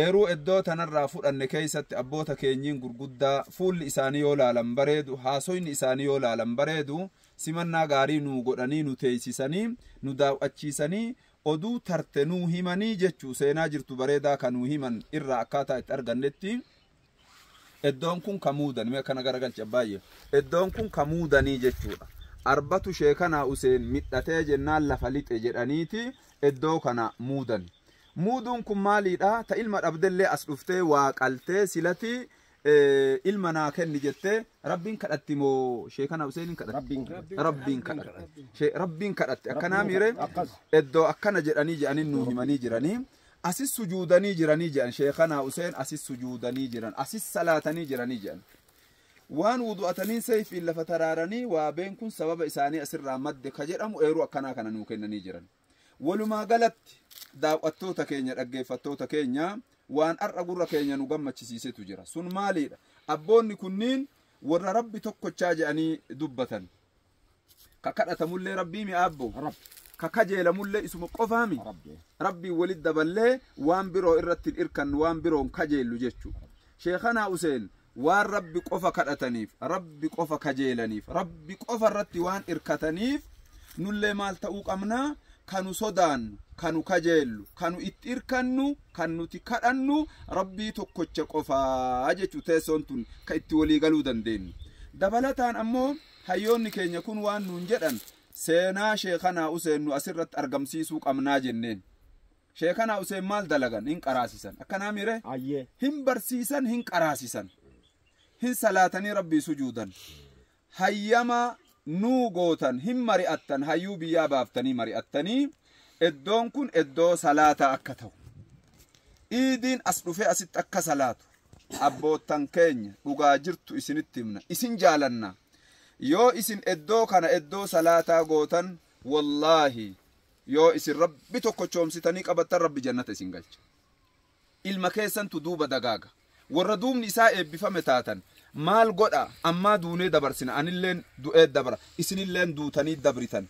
Eeruu eddoo tanarraa fudhanne keeysatti abboota keenyiin gurguddaa fuulli isaanii yoo laalan bareedu, haasoyni isaanii yoo laalan bareedu, simannaa gaarii nuu godhanii nu teeysisanii, nu daaw'achiisanii, oduu tarte nuu himanii jechuu seenaa jirtu bareedaa ka nuu himan irraa akkaataa itti argannetti, Eddoon kun ka muudani. Mee akkana garagalchi abbaayye. Eddoon kun ka muudanii jechuudha. Arbatu sheekanaa Useen midhatee jennaan lafa lixe jedhaniiti eddoo kana muudani. Muuduun kun maaliidha? Ta ilma dhabdellee as dhuftee waa qaltee silati ilma naa kenni jettee rabbiin kadhatti moo sheekanaa Useeniin kadhatti? Rabbiin kadhatti. Rabbiin kadhatti. Akkanaa miire eddoo akkana jedhanii jedhanii nuu himanii jiranii. Asis sujuudanii jiranii jedhan sheekanaa Huseen asis sujuudanii jiran asis salaatanii jiranii jedhan. Waan wudu'ataniin seeyfiin lafa taraaranii waabeen kun sababa isaanii asirraa madde ka jedhamu eeruu akkanaa kana nuu kennanii jiran. Walumaa galatti daaw'attoota keenya dhaggeeffattoota keenya waan har'a gurra keenya nu gammachisiisetu jira. Sun maaliidha? Abboonni kunniin warra Rabbi tokkochaa jedhanii dubbatan. ka kadhatamullee rabbii mi aabbo Rabbi. ka kajeelamullee isuma qofaa mi Rabbi. rabbiin walit daballee waan biroo irratti hin irkannu waan biroon kajeellu jechu sheekanaa useen waan rabbi qofa kadhataniif rabbi qofa kajeelaniif rabbi qofa irratti waan irkataniif nullee maal ta'uu qabna kanu sodaannu kanu kajeellu kanu itti irkannu kan nuti kadhannu rabbii tokkocha qofaa jechu teessoon tun ka itti walii galuu dandeenyu dabalataan ammoo Hayyoonni keenya kun waan nuun jedhan seenaa Sheekanaa Useen nu asirratti argamsiisuu qabnaa jenneen. Sheekanaa Useen maal dalagan? Hin qaraasisan. Akkanaa miire? Ayyee. Hin barsiisan, hin qaraasisan. Hin salaatanii rabbii sujuudan. Hayyama nuu gootan, hin mari'attan, hayyuu biyyaa baaftanii mari'attanii iddoon kun iddoo salaataa akka ta'u. Iidiin as dhufee asitti akka salaatu. abboottan keenya dhugaa jirtu isinitti himna isin jaalanna yoo isin eddoo kana eddoo salaataa gootan wallaahi yoo isin rabbi tokko choomsitanii qabattan rabbi jannata isin galcha ilma keessantu duuba dagaaga warra duubni isaa eebbifame taatan maal godha ammaa duunee dabarsina anilleen du'ee dabra isinilleen duutanii dabritan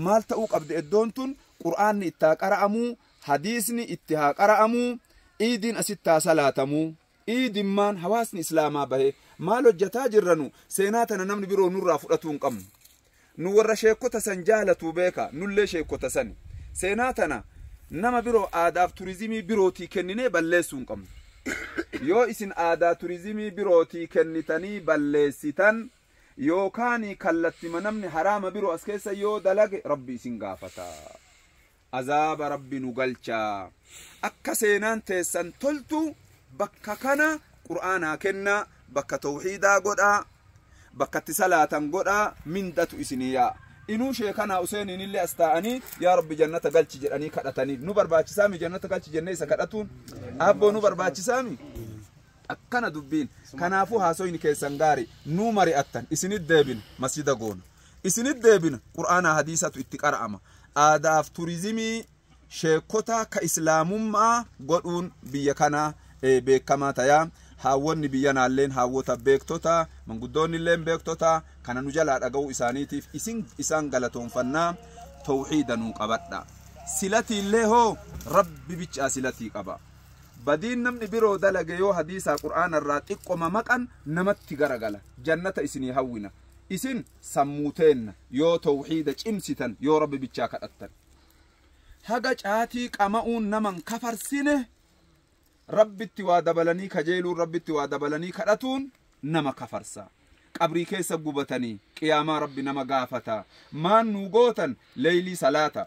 maal ta'uu qabdi eddoon tun qur'aanni ittaa qara'amuu Hadiisni itti haa qara'amuu, iidiin asitti haa salaatamuu, iidimmaan hawaasni islaamaa bahee maal hojjataa jirra nu seenaa tana namni biroo nurraa fudhatuu hin qabnu. Nu warra sheekkota san jaalatuu beeka nullee sheekkota sani. Seenaa tana nama biroo aadaaf turizimii birootii kenninee balleessuu hin qabnu. Yoo isin aadaa turizimii birootii kennitanii balleessitan yookaanii kallattima namni haraama biroo as keessa yoo dalage rabbi isin gaafata. azaaba rabbi nu galcha akka seenaan teessan toltu bakka kana qur'aanaa kennaa bakka tawxiidaa godhaa bakka itti salaatan godhaa mindatu isinii yaa inuu sheekanaa useeniin illee as taa'anii yaa rabbi jannata galchi jedhanii kadhatanii nu barbaachisaami jannata galchi jennee isa kadhatuun abboo nu barbaachisaami akkana dubbiin kanaafuu haasoyni keessan gaarii nuu mari'attan isinit deebina masjida goona isinit deebina qur'aanaa hadiisatu itti qara'ama aadaaf turizimii sheekota ka islaamummaa godhuun biyya kanaa eh, beekamaa tayaa haawwonni biyya naalleen haawwota beektota manguddoonnilleen beektota kana nu jalaa dhaga'uu isaaniitiif isin isaan galatoonfannaa tawxiida nuu qabadha silatiillee hoo rabbi bichaa silatii qaba badiin namni biroo dalage yoo hadiisaa qur'aana irraa xiqqoma maqan namatti garagala jannata isinii hawwina isin sammuu teenna yoo tawxiida cimsitan yoo rabbi bichaa kadhattan haga caatii qama'uun naman kafarsine rabbitti waa dabalanii kajeeluun rabbitti waa dabalanii kadhatuun nama kafarsa qabrii keessa gubatanii qiyaamaa rabbi nama gaafata maan nuu gootan leeylii salaata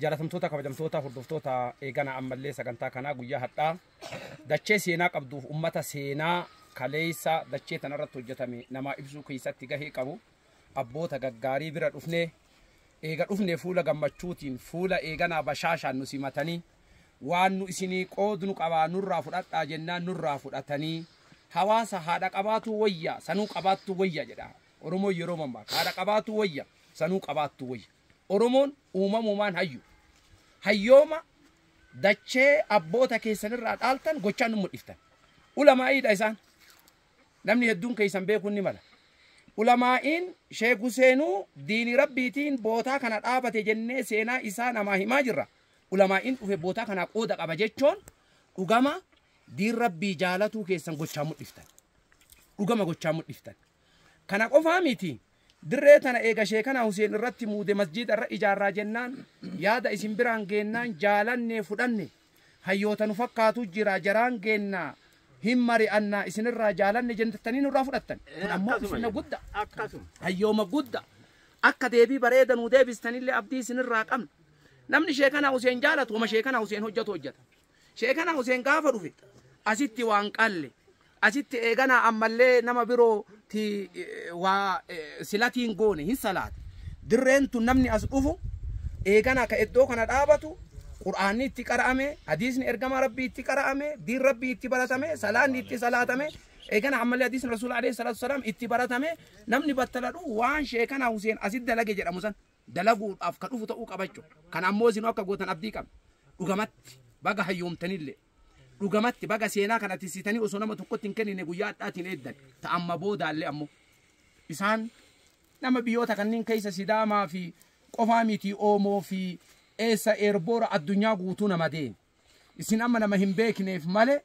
Jaalatamtoota kabajamtoota hordoftoota eegana ammallee sagantaa kanaa guyyaa hadhaa dachee seenaa qabduuf ummata seenaa kaleessa dachee tanarratti hojjetame namaa ibsuu keessatti gahee qabu abboota gaggaarii bira dhufnee eega dhufne fuula gammachuutiin fuula eeganaa bashaashaan nu simatanii waan nu isinii qoodnu qabaa nurraa fudhadhaa jennaan nurraa fudhatanii hawaasa haadha qabaatuu wayya sanuu qabaattuu wayya jedha oromoo yeroo mammaa haadha qabaatuu wayya sanuu qabaattuu wayya Oromoon uumamuumaan hayyu. Hayyooma dachee abboota keessan irraa dhaaltan gochaan nu mul'iftan. Ulamaa'iidha isaan. Namni hedduun keessan beekuun ni mala. Ulamaa'iin Sheek Huseenuu diinii rabbiitiin bootaa kana dhaabate jennee seenaa isaa namaa himaa jirra. Ulamaa'iin dhufe bootaa kanaa qooda qaba jechoon dhugama diin rabbii jaalatuu keessan gochaan mul'iftan. Dhugama gochaan mul'iftan. Kana qofaa miti, dirree tana eega Sheekanaa Huseen irratti muude masjiida irra ijaarraa jennaan yaada isin biraan geennaan jaalannee fudhanne. Hayyoota nu fakkaatu jira jaraan geenna hin mari'anna isin irraa jaalanne jennattanii nurraa fudhattan. Kun ammoo ulfinna gudda. Hayyooma gudda. Akka deebii bareeda nuu deebistanillee abdii isin irraa qabna. Namni Sheekanaa Huseen jaalatu homa Sheekanaa Huseen hojjatu hojjata. Sheekana Huseen gaafa dhufe asitti waan qalle asitti eeganaa ammallee nama biroo ti waa silatiin goone hin salaate. Dirreen tun namni as dhufu eegana ka iddoo kana dhaabatu Qur'aanni itti qara'ame, hadiisni ergamaa Rabbii itti qara'ame, diin Rabbii itti baratame, salaanni itti salaatame, eegana ammallee hadiisni Rasuula alayhi salaatu salaam itti baratame namni battala dhufu waan sheekana Huseen asitti dalage jedhamu san. dalaguudhaaf ka dhufu ta'uu qabachu kana ammoo isinuu akka gootan abdii qabna dhugamatti baga hayyoomtanillee dhugamatti baga seenaa kana tissitanii osoo nama tokkotti hin kennine guyyaa adhaatiin eeddan ta amma boodaallee ammoo isaan nama biyyoota kanneen keessa sidaamaa fi qofaa miti oomoo fi eessa eerboora addunyaa guutuu nama deemu isin amma nama hin beekneef malee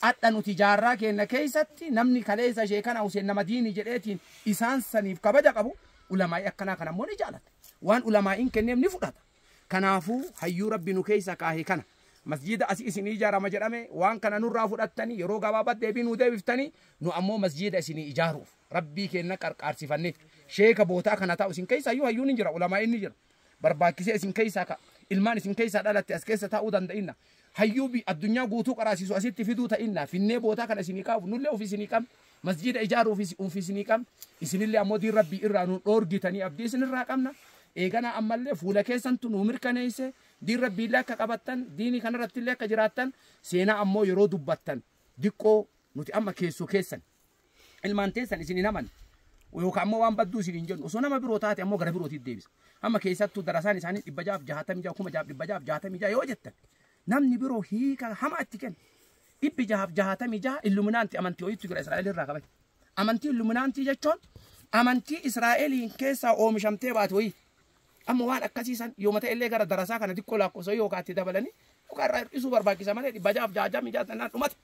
Adha nuti jaarraa keenna keeysatti namni kaleeysa sheekana huseen nama diini jedheetiin isaan saniif kabaja qabu ulamaa'ii akkanaa kana ammoo ni jaalata waan ulamaa'iin kenneef ni fudhata kanaafuu hayyuu rabbi nu keeysa kaahe kana masjiida asi isinii ijaarama jedhame waan kana nurraa fudhattanii yeroo gabaabat deebii nuu deebiftanii nu ammoo masjiida isinii ijaaruuf rabbii keenna qarqaarsifannee sheeka bootaa kana taa'u isin keeysa hayyuu hayyuun hin jira ulamaa'iin ni jira barbaachisee isin keessaa ka ilmaan isin keessaa dhalatte as keessa taa'uu danda'inna. Hayyuu bi addunyaa guutuu qaraasiisu asitti fiduu ta'inna. Finnee bootaa kana isinii kaa'uuf nullee ofii isinii qabna. Masjiida ijaaruuf is- ofii isinii qabna. Isinillee ammoo diin rabbii irraa nu dhoorgitanii abdii isinirraa qabna. Eeganaa ammallee fuula keessantu nu mirkaneesse. Diin rabbiillee akka qabattan, diinii kanarrattillee akka jiraattan, seenaa ammoo yeroo dubbattan diqqoo nuti amma keessoo keessan. ilmaan teessan isin hin haman yookaan ammoo waan badduu isin hin jennu osoo nama biroo taate ammoo gara birootiif deebisa amma keessattuu darasaan isaanii dhibba jaaf jaatamii jaa kuma jaaf dhibba jaaf jaatamii jaa yoo jettan namni biroo hiika hama itti kenna dhibbi jaaf jaatamii jaa illuminaanti amantii ho'iitu jira Israa'el irraa qaban amantii illuminaantii jechuun amantii Israa'eliin keessaa oomishamtee baate ho'ii Amma waan akkasii san yooma ta'ellee gara darasaa kana xiqqoo laakkofsa yookaan itti dabalanii yookaan irraa hir'isuu barbaachisa malee dhibba jaaf jaajaa mijaa tannaan dhumate.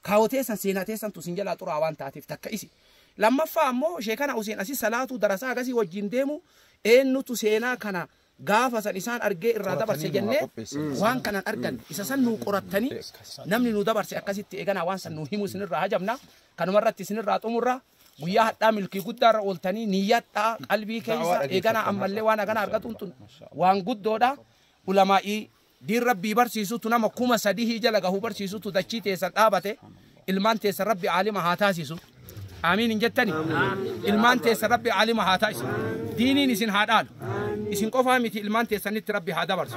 Kaawoo teessan seenaa teessan tu sin jalaa xuraa waan taateef takka isi. Lammaffaa ammoo sheekana Huseen asii salaatuu darasaa agasii wajjin deemu eenyutu seenaa kana gaafa san isaan argee irraa dabarse jennee waan kanan argan isa san nuu qorattanii namni nu dabarse akkasitti eeganaa waan san nuu himu isinirraa hajabna kanuma irratti isinirraa xumurra. guyyaa hadhaa milkii guddaa irra ooltanii niyyadhaa qalbii keessa eeganaa ammallee waan hagana argatuun tun waan guddoodha ulamaa'ii diin rabbii barsiisutu nama kuma sadihii jala gahu barsiisutu dachii teessan dhaabate ilmaan teessan rabbi aalima haa taasisu aamiin hin jettani ilmaan teessan rabbi aalima haa taasisu diiniin isin haa dhaalu isin qofaa miti ilmaan teessanitti rabbi haa dabarsu